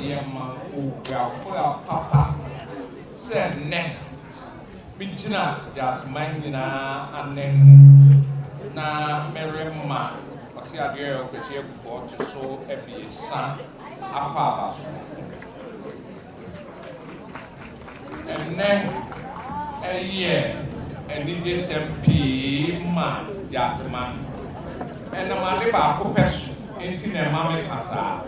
Yɛma oguakoa papa sɛ nnɛ megyina Gyaseman nyinaa ananmu na merema Ɔseadeɛyɔ Kwesi Abufuo ɔto so abiɛsa akɔ aba so. Ɛnnɛ ɛyɛ anigyesɛm pii ma Gyaseman. Ɛnam ade baako pɛ so nti na ɛma meka saa.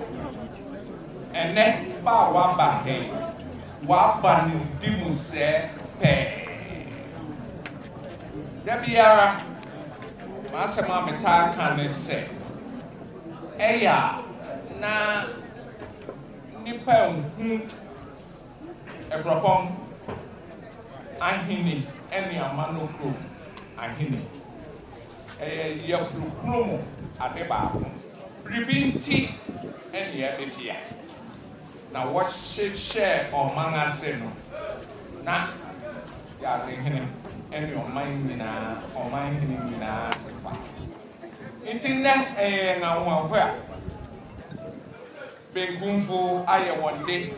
Ɛnnɛ ba a woaba he, woaba nimdi mu sɛɛ pɛɛ. Da biara m'asɛm a metaa ka ne sɛ, ɛyɛ a na nnipa nhu Aburɔpɔn Ahene ne Amanɔkurom Ahene. Ɛyɛ yafunu kunu mu ade baako. Biribi nti nnua bi fia, na wɔhye hyɛɛ ɔman ase no, na wiase hene ne ɔman nyinaa, ɔman hene nyinaa te kwa. Nti nnɛ ɛyɛ yɛn anwanwahoa. Benkumfo ayɛ wɔn de,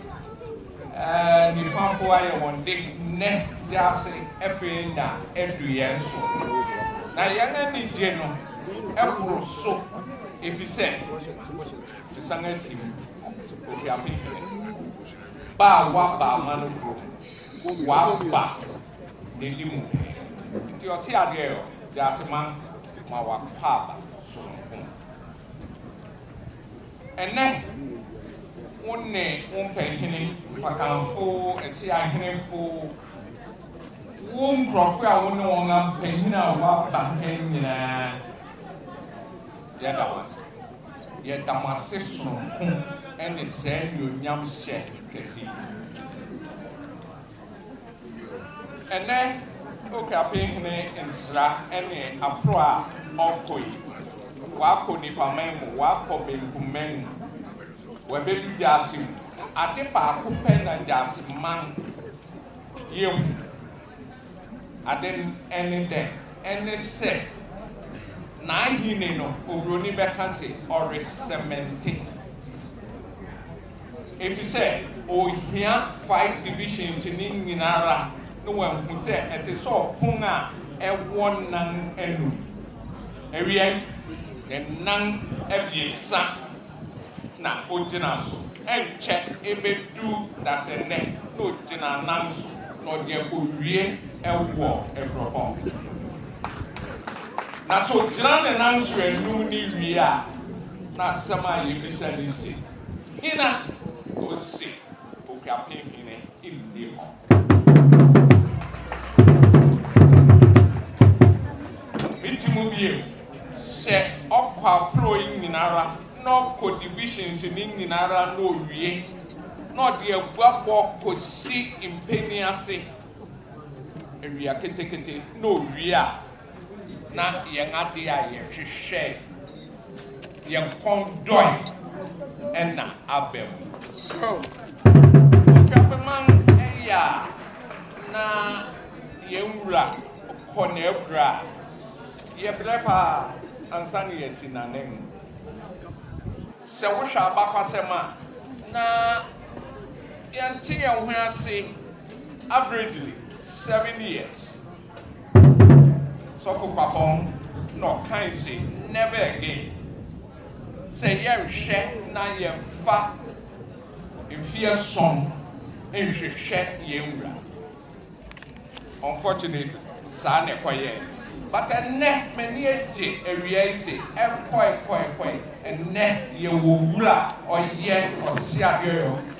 nifafo ayɛ wɔn de, nnɛ wiase afei na adu yɛn so, na yɛn anigye no boro so efisɛ yɛsan afi mu. Ofi Apenpele ba a waba Amano kurom, waba n'adi mu pɛɛ nti ɔse adeɛ yɔ, Gyaase man ma w'akwaaba sononko. Ɛnnɛ, wo ne wo mpanhene, mpakanfo, ɛse ahenefo, wo nkurɔfo a wo ne wɔn ampanyin a wɔaba ha nyinaa, yɛda mo ase. Yɛda mo ase sononko ne saa anuonyamhyɛ kɛse yi. Ɛnnɛ Okrapin hene nsra ne aporo a ɔkɔ yi, wakɔ Nifaman mu, wakɔ Benkumman mu, wabedu Gyasi mu. Ade baako pɛ na Gyasiman yɛ hu, ade no ɛne dɛn? Ɛne sɛ n'ahenni no, Oburoni bɛka se ɔresɛmɛnte. efisɛ ohia five divisions no nyinara na wahu sɛ ɛte sɛ ɔpon a ɛwɔ nan anum. Awiei, ne nan abiɛsa na ogyina so. Ɛnkyɛ ebedu dasɛnnɛ na ogyina nan so na ɔde akowie wɔ Agorɔbɔn. Na sɛ ogyina ne nan so anum no wie a, na asɛm a yebisa no se, Hena na ose okuapem hene nni hɔ? Miti mu bio sɛ ɔkɔ aprɔw yi nyinara na ɔkɔ divisions no nyinara na owie na ɔde aguabɔ kosi mpanin ase awia ketekete na owie a, na yɛn ade a yɛhwehwɛe, yɛn kɔn dɔe na aba mu. Otwapeman yɛ a na yɛn wura kɔ n'akura a, yɛbrɛ paa ansa na yɛasi n'anan mu. Sɛ wohwɛ abakwasɛm a, na yɛnte yɛn ho ase averagely seven years. Sɔfo Kwapong na ɔkae se, Never again. Sɛ yɛnhwɛ na yɛmfa mfe ason nhwehwɛ yɛn wura. Unfortunately, saa na ɛkɔyɛɛ. But ɛnnɛ, m'ani agye awia yi se, ɛkɔe, kɔe, kɔe, ɛnnɛ yɛwɔ wura a ɔyɛ ɔseabeɔeɔ.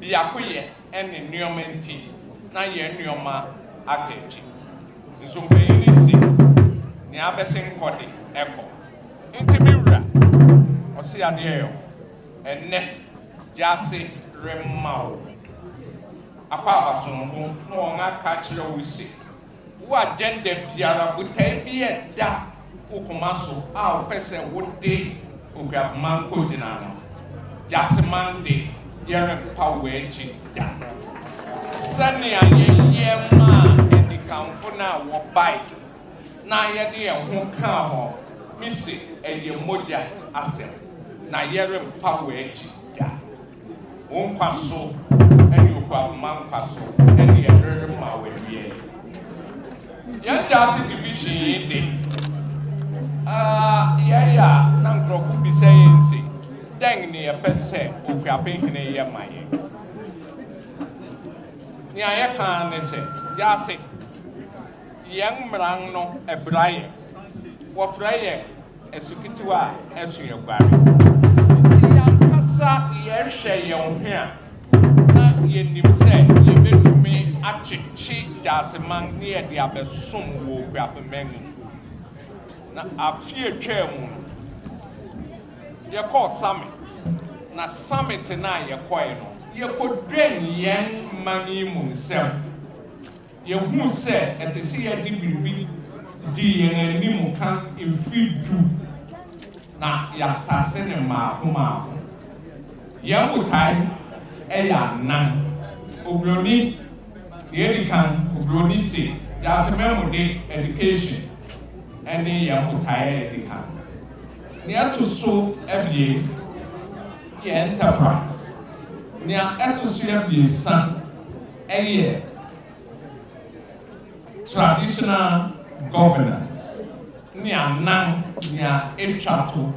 Biakoyɛ ne nneɛma nti, na yɛn nneɛma aka akyi. Nso mpanyin no se, Nea abɛse nkɔ de, ɛkɔ. Enti me wura, ɔse adeɛyɔ, ɛnnɛ gyaase remma wo. Akwaaba somfo no wɔn aka akyerɛ wo se. Wo agenda biara, botae bi a ɛda wo koma so a wopɛ sɛ wode Okuapoma kogyina no, Jahseman de, yɛrempa wo akyi da. Sɛnea yɛyɛ maa adikanfo no a wɔbae na yɛde yɛn ho kaa hɔ, mise ɛyɛ mogya asɛm, na yɛrempa wo akyi da. Wo nkwa so ne Oguamma nkwa so ne yɛn rere ma wo awie. Yɛn Jurassic Division yi de, uh, yɛyɛ a na nkurɔfo bisa yɛn se, dɛn ne yɛpɛ sɛ Okuape hene yɛ ma yɛn? Nea yɛka ne sɛ, yɛase, yɛn mmran no ɛbra yɛn, wɔfrɛ yɛn Asukitiw a ɛso yɛ guare nti, yɛn ankasa yɛhwɛ yɛn ho a, na yenim sɛ yebetumi akyekye Daaseman na yɛde abɛsom wɔ Okuapman mu. Na afe a etwaa mu no, yɛkɔɔ summit, na summit no a yɛkɔe no, yekodwen yɛn man yi mu nsɛm. Yehu sɛ ɛte sɛ yɛde biribi dii yɛn anim kan mfe du na yɛatase no mmaako mmaako. Yɛn botae yɛ anan, Oburoni, nea edi kan, Oburoni se, Wiase Mmamu De, Education, ne yɛn botae a edi kan. Nea ɛto so abien yɛ Enterprise, nea ɛto so abiɛsa Ɛyɛ traditional governance ne anan nea etwa to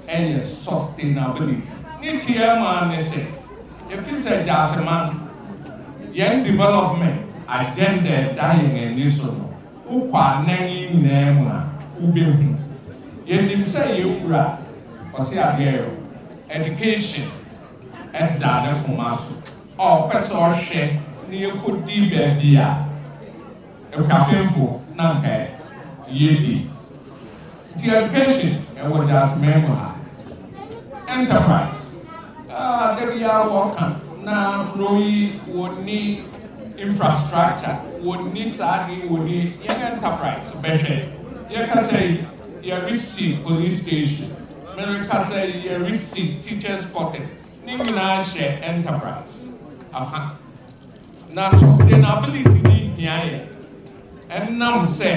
yɛ sustainability. Ne tiaa mu ara ne sɛ, efisɛ Gyaseman, yɛn development agenda a ɛda yɛn ani so no, wokɔ anan yi nyinaa mu a, wubehu. Yenim sɛ yɛn Wura, Kwasi Aduayo, education da ne koma so. ɔpɛ sɛ ɔhwɛ na yɛkɔdi baabi a akuapemfo na anka yɛdi. Nti education ɛwɔ Gyaaseman mu ha. Enterprise, ah da biara wɔka na kuro yi wɔnni infrastructure, wɔnni saa ade yi, wɔnni, yɛn enterprise bɛhwɛ. Yɛkasa yi, yɛresi police station, merekasa yi yɛresi teachers quarters. Ne nyinaa hyɛ enterprise afa. Na sustainability ne hia yɛ ɛnam sɛ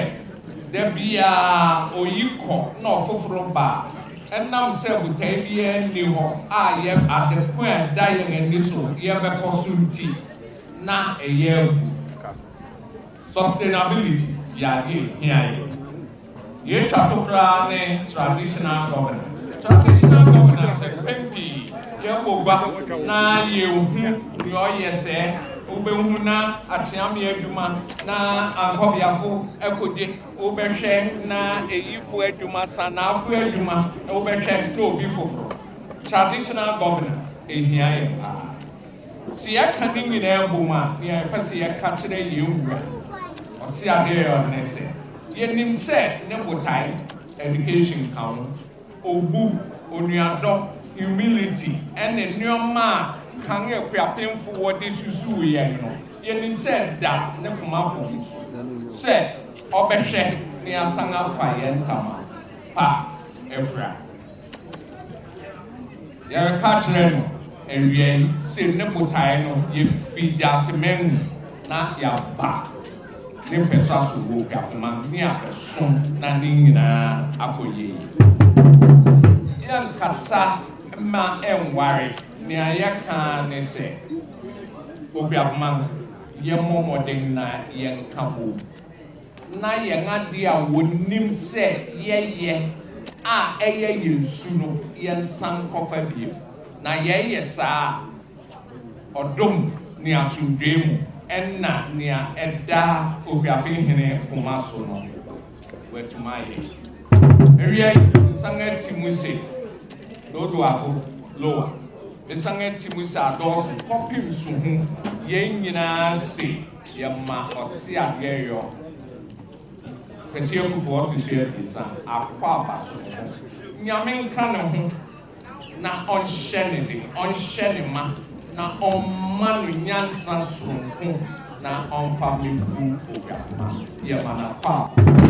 da biara oyi kɔ na ɔfoforo ba a, ɛnam sɛ botae biara nni hɔ a yɛ ade ko a ɛda yɛn ani so yɛbɛkɔ so nti na ɛyɛ abu. Sustainability yɛ ade a ɛhia yɛn. Deɛ ɛtwa to koraa ne Traditional Governance. Traditional Governance yɛ mpɛn pii yɛbɔ gua na yɛhu deɛ ɔyɛ sɛɛ. Wobɛhu na ateaamea adwuma na Ankɔbeafo akode, wobɛhwɛ na Ayifo adwuma, Sanafo adwuma, wobɛhwɛ na obi foforo. Traditional Governance ɛhia yɛn paa. Sɛ yɛka ne nyinaa bom a, nea yɛpɛ sɛ yɛka kyerɛ yɛn Wura Ɔseabeaɔ ne sɛ, yɛnim sɛ ne botae, education ka ho, obu, onuadɔ, humility, ne nnoɔma a kan akuapemfoɔ de susuu yɛn no, yɛnim sɛ ɛda ne koma bom so sɛ ɔbɛhwɛ na yɛasan afa yɛn ntama pa afura. Yɛreka kyerɛ no awiei se ne botae no ye fi teaseman mu na yɛaba ne mpɛsa so wɔ Okuafoma ne a ɛso na ne nyinaa akɔ yie. Yɛnkasa mma ɛnware, nea yɛka ara ne sɛ Okuafoma yɛmmɔ mmɔden na yɛnka bom. na yɛn ade a wɔnim sɛ yɛyɛ a ɛyɛ yɛn su no, yɛnsan nkɔfa bio. Na yɛyɛ saa a, ɔdom ne asomdwoe mu na nea ɛda Ohuaben Hene koma so no, wɔatumi ayɛ. Awiei, mesan ati mu se, Lodoafo, Lowa, mesan ati mu se adɔɔso kɔpem su ho, yɛn nyinaa se, Yɛma ɔse adeɛ yɔ Kwasi Akufoɔ ɔto so abiɛsa akɔ aba so ne ho Nyame nka ne ho na ɔnhyɛ ne den ɔnhyɛ ne ma na ɔmma no nyansa soronko na ɔmfa mebu Oguahoma yɛma no akɔ aba.